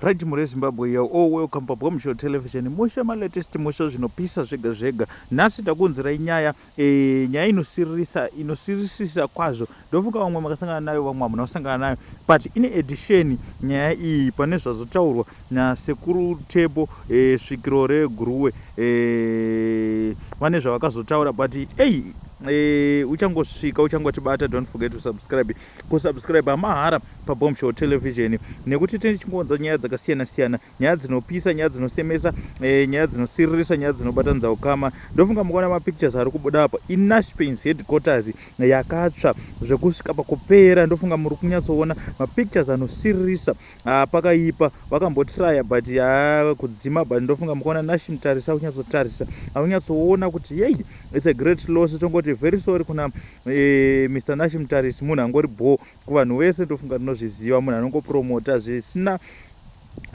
Right mhuri yeZimbabwe you're all welcome paBombshell Television. Mushe malatest mushe zvinopisa zvega zvega. Nhasi takuunzirai nyaya e, nyaya inosiririsa inosirisisa kwazvo. Ndofunga vamwe makasangana nayo vamwe hamuna kusangana nayo but in addition nyaya iyi pane zvazotaurwa nasekuru Tebo e, svikiro reGuruwe e, vane zvavakazotaura but ei e, uchangosvika uchangotibata don't forget to subscribe kusubscribe mahara pabombshell television nekuti tine chingonza nyaya dzakasiyana siyana nyaya dzinopisa nyaya dzinosemesa eh, nyaya dzinosiririsa nyaya dzinobatanidza ukama ndofunga mukaona mapictures ari kubuda apa inashpins headquarters yakatsva zvekusvika pakupera ndofunga muri kunyatsoona mapictures anosiririsa Ah, pakaipa vakambotraya but yaa kudzima but ndofunga mukaona nashi mutarisa aunyatsotarisa aunyatsoona kuti yei its a great loss tongoti very sorry kuna e, eh, mr nashi mutarisi munhu angori bho kuvanhu vese ndofunga tinozviziva munhu anongopromota zvisina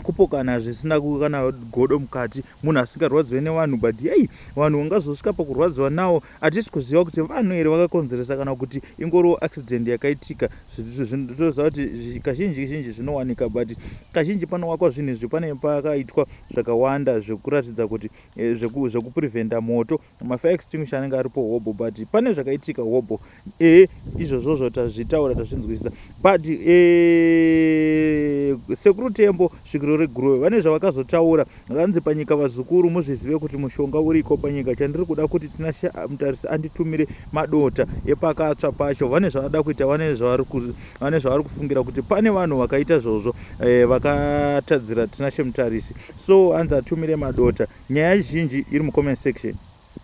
kupokana zvisina kana godo mukati munhu asingarwadziwe nevanhu but yei vanhu ungazosvika pakurwadziwa nawo hatisi kuziva kuti vanhu here vakakonzeresa kana kuti ingoriwo accident yakaitika zvitoziva kuti kazhinji zhinji zvinowanika but kazhinji panowakwa zvinhu izvi pane pakaitwa zvakawanda zvekuratidza kuti eh, zvekupreventa moto mafire extinguisher anenge aripo hobho but pane zvakaitika hobho e izvozvozvo tazvitaura tazvinzwisisa but e, sekuru tembo svikiro reguruve vane zvavakazotaura Hanzi panyika vazukuru muzvizive kuti mushonga uriko panyika chandiri kuda kuti tinashe mutarisi anditumire madota epakatsva pacho vane zvavada kuita vane zvavari kufungira kuti pane vanhu vakaita zvozvo eh, vakatadzira tinashe mutarisi so hanzi atumire madota nyaya zhinji iri mucomment section